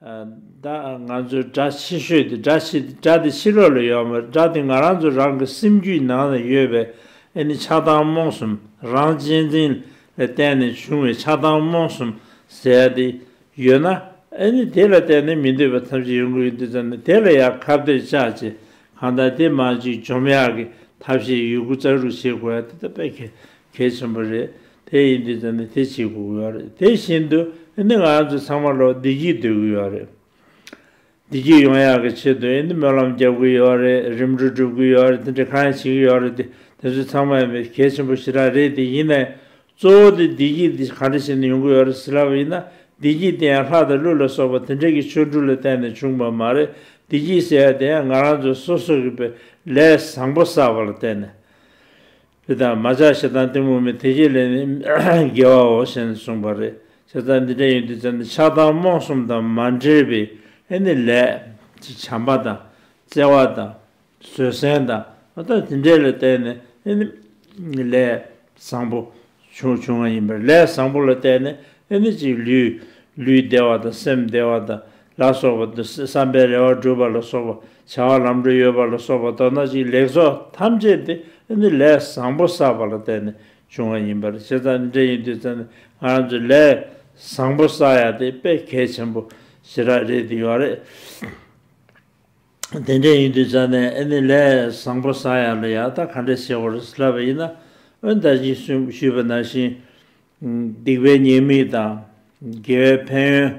ང་ཚོའི་སྒྲ་ཕྱི་བཤོལ་དེ་སྒྲ་ཕྱི་སྒྲ་དེ་ཕྱི་རོལ་ལ་ཡོད་མོད་སྒྲ་དེ་ང་རང་ཚོ་རང་གི་སེམས་རྒྱུད་ནང་ན་ཡོད་པས་ཨེ་ནི་ཆགས་སྡང་རྨོངས་གསུམ་རང་གཅེས་འཛིན་ལ་བརྟེན་ནས་བྱུང་བའི་ཆགས་སྡང་རྨོངས་གསུམ་ཟད་དེ་ཡོད་ན། ཨེ་ནི་དེ་ལ་བརྟེན་ནས་མི་འདོད་པ་ཐམས་ཅད་ཡོང་གི་ཡོད་འདུག་ཙང་ནི་དེ་ལ་ཡང་ཁ་བརྡའི་བཅའ་བྱེད་གང་དག་དེ་མ་གཅིག་འཇོམས་ཡག་གི་ཐབས་ཤེས་ཡོད་དགུ་ཙང་རུ་བྱེད་དགོས་ཡག་དེ་ད་དཔེ་གལ་གལ་ཆེན་པོ་རེད་དེ་ཡིན་དུས་ཙང་ནི་དེ་བྱེད་དགོས་གི་ཡོད་རེད་དེ་བཞིན་དུ་ཨེ་ནི་ང་ཚོ་ཚང་མ་ལོག་བདེ་སྐྱིད་སྡོད་གི་ཡོད་རེད། བདེ་སྐྱིད་ཡོང་ཡག་གི་ཆེད་དུ་ཡིན་དེ་སྨོན་ལམ་རྒྱབ་གི་ཡོད་རེད་རིམ་གྲོ་སྒྲུབ་གི་ཡོད་རེད་དེ་འདྲ་གང་ཡང་བྱེད་གི་ཡོད་རེད་དེ་ཚོ་ཚང་མ་མི་གལ་ཆེན་པོ་ཞེ་དྲག་རེད་དེ་ཡིན་ནའི་གཙོ་བོ་དེ་བདེ་སྐྱིད་དེ་གང་འདྲ་ཞིག་ནས་ཡོང་གི་ཡོད་རེད་ཟེར་ལབ་ཡིན་ན་བདེ་སྐྱིད་དེ་ཡང་ལྷ་དང་ཀླུ་ལ་སོགས་པ་དེ་འདྲ་གི་ཆོས་དྲུག་ལ་བརྟེན་ནས་བྱུང་བ་མ་རེད་བདེ་སྐྱིད་ཟེར་ཡ་དེ་ཡང་ང་རང་ཚོ་སོ་སོ་གི་པའི་ལས་བཟང་པོ་བསགས་པ་ལ་བརྟེན་ནས་དེ་ལྟར་མ་ཆགས་ཞེ་སྡང་གཏི་མུག་མེད་དེ་བཞི་ལས་ནི་རྒྱལ་བའོ་ཞེས་གསུངས་པ་རེད་ཅེས་རྩ་འདི་འདྲའི་ཡོན་ཏན་སྦྱར་ནས་ཆགས་སྡང་རྨོངས་གསུམ་དང་མ་འདྲེས་པའི་ཨེ་ནི་ལས། ཅེས་བྱམས་པ་དང་བརྩེ་བ་དང་བཟོད་བསྲན་དང་མ་དག་དེ་འདྲས་ལ་བརྟེན་ནས་ཨེ་ནི་ལས་བཟང་པོ་བྱུང་བ་ཡིན་པས་ལས་བཟང་པོ་ལ་བརྟེན་ནས་ཨེ་ནི་ཅིག་ལུས་ལུས་བདེ་བ་དང་སེམས་བདེ་བ་དང་ལ་སོགས་པ། བསམ་པའི་རེ་བ་བསྒྲུབ་པ་ལ་སོགས་པ། བྱ་བ་ལམ་འགྲོ་ཡོད་པ་ལ་སོགས་པ་མདོར་ན་ཅིག་ལེགས་ཚོགས་ཐམས་ཅད་དེ་ནི་ལས་བཟང་པོ་བསགས་པ་ལ་བརྟེན་ནས་བྱུང་བ་ཡིན་པར་ཆེ་ཚང་འདྲེ་ཡིན་དུས་ཚོད་ནས་ང་རང་ཚོས་ལས་བཟང་པོ་བསགས་ཡ་དེ་དཔེ་གལ་ཆེན་པོ་ཞེ་དྲག་རེད་འདུག་ཡོད་རེད། དེ་འདྲ་ཡིན་དུས་ཚོད་ནས་ཨེ་ནི་ལས་བཟང་པོ་བསགས་ཡ་ལ་ཡ་ད་ག་འདྲ་བྱེད་བར་སླ་བ་ཡིན་ན་འོན་ད་ཅིག་གསུངས་ཞུས་པ་ནང་བཞིན། སྡིག་པའི་ཉེས་དམིགས་དང། དགེ་བའི་ཕན་ཡོན།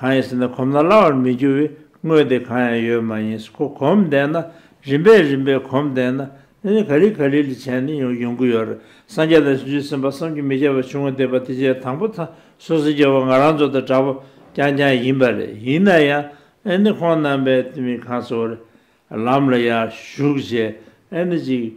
གང་ཡིན་ཟེར་ན་གོམས་ན་སླ་བར་མི་འགྱུར་བའི་དངོས་དེ་གང་ཡང་ཡོད་མ་ཡིན་ཁོ་གོམས་བསྡད་ན་རིམ་པས་རིམ་པས་གོམས་བསྡད་ན་ནི་ག་རིལ་ག་རིལ་ལས་བྱས་ནས་ཡོང་ཡོང་གི་ཡོད་རེད་སངས་རྒྱས་དང་ཞི་འཇུ་སེམས་དཔའ་བསམ་གྱིས་མི་ཁྱབ་པ་བྱུང་བསྡད་པ་དེ་རྗེས་དང་པོ་ད་སོ་སོའི་རྒྱལ་བ་ང་རང་ཚོ་དང་འདྲ་པོ་རྐྱང་རྐྱང་ཡིན་པ་རེད་ཡིན་ན་ཡང་ཨེ་ནི་ཁོང་རྣམ་པས་དེ་མིན་གང་ཚོ་རེད་ལམ་ལ་ཡར་ཞུགས་བྱས་ཨེ་ནི་ཅིག།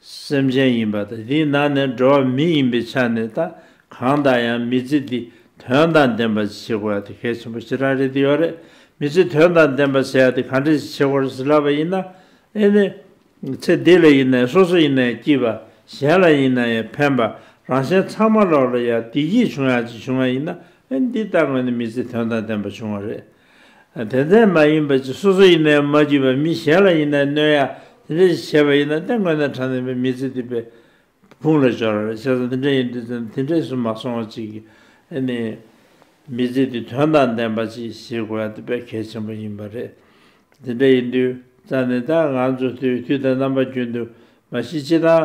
སེམས་ཅན་ཡིན་པ་དང་དེའི་ནང་ནས་འགྲོ་བ་མི་ཡིན་པའི་ཆ་ནས་ད་གང་དང་ཡང་མི་རྩི་སྟེ་དོན་དང་ལྡན་པ་བྱེད་དགོས་པ་དེ་གལ་ཆེན་པོ་ཅི་རང་རེད་དེ་ཡོད་རེད་མི་རྩི་དོན་དང་ལྡན་པ་བྱེད་དེ་གང་འདྲ་ཞིག་བྱེད་དགོས་ཟེར་ལབ་པ་ཡིན་ན་ཨེ་ནི། ཚེ་འདི་ལ་ཡིན་ན་ཡང་སོ་སོ་ཡིན་ན་ཡང་སྐྱིད་པ་གཞན་ལ་ཡིན་ན་ཡང་ཕན་པ་རང་གཞན་ཚང་མ་ལོག་ལ་ཡང་བདེ་སྐྱིད་བྱུང་ཡག་ཅིག་བྱུང་བ་ཡིན་ན་ཨེ་འདི་ལྟ་བུ་ནི་མི་རྩི་དོན་དང་ལྡན་པ་བྱུང་བ་རེད་དེ་ལྟར་མ་ཡིན་པ་ཅི་སོ་སོ་ཡིན་ནའི་མ་བརྒྱུད་པའི་མི་གཞན་ལ་ཡིན་ནའི་གནོད་ཡ། དེ་འདྲ་ཞིག་བྱས་པ་ཡིན་ན་སྟེ་མགོན་དང་གྲངས་ལྡན་པའི་མི་ཚེ་འདི་པའི་ཕུང་ལ་སྦྱོར། བྱས་ཙང་དེ་འདྲ་ཡིན་དུས་ཙམ་དེ་འདྲས་སུ་མ་སོང་བ་ཅིག་གིས་ནི། མི་ཚེ་འདི་དོན་དང་ལྡན་པ་ཅིག་བྱེད་དགོས་ཡ་དེ་པས་གལ་ཆེན་པོ་ཡིན་པ་རེད། དེ་འདྲ་ཡིན་དུས་ཙམ་ནི་ད་ང་ཚོ་དུས་དང་རྣམ་པ་རྒྱུན་དུ་མ་ཤི་ཅི་དང་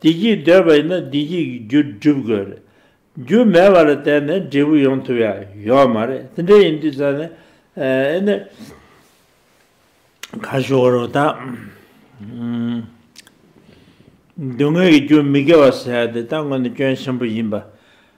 བདེ་སྐྱིད་འདོད་པ་ཡིན་ན་བདེ་སྐྱིད་ཀྱི་རྒྱུ་སྒྲུབ་དགོས་རེད། རྒྱུ་མེད་པ་ལ་བརྟེན་ནས་འབྲས་བུ་ཡོང་ཐུབ་ཡ་ཡོད་མ་རེད་དེ་འདྲ་ཡིན་དུས་ཙང་ནས་ཨེ་ནས་ག་ཞོ་བོ་རོ་དང། སྡུག་བསྔལ་གྱི་རྒྱུ་མི་དགེ་བ་ཟེར་ཡ་དེ་ད་དངོས་ནས་སྐྱོན་ཆེན་པོ་ཡིན་པ།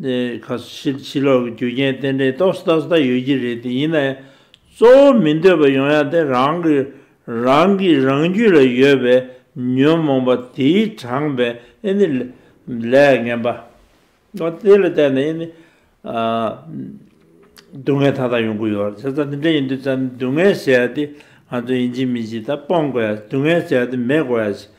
ཁ་ཕྱིར་ཕྱི་ལོག་གི་རྒྱུ་རྐྱེན་རྟེན་འབྲེལ་རྟོག་སྲིད་ལྟ་སྲིད་ད་ཡོད་ཀྱི་རེད་དེ་ཡིན་ན་ཡང་གཙོ་བོ་མི་འདོད་པ་ཡོང་ཡ་དེ་རང་གི་རང་གི་རང་རྒྱུད་ལ་ཡོད་པའི་ཉོན་མོངས་པ་དེའི་དྲངས་པའི་ཨེ་ནི་ལས་ངན་པ། དེ་ལ་བརྟེན་ནས་ཨེ་ནི། སྡུག་བསྔལ་མཐའ་དག་ཡོང་གི་ཡོད་རེད་ད་དེ་འདྲ་ཡིན་དུས་ད་སྡུག་བསྔལ་ཟེར་ཡ་དེ་ང་ཚོ་ཡིན་གཅིག་མིན་གཅིག་ད་སྤོང་དགོས་ཡ་སྡུག་བསྔལ་ཟེར་ཡ་དེ་མེད་དགོས་ཡ་ཞིག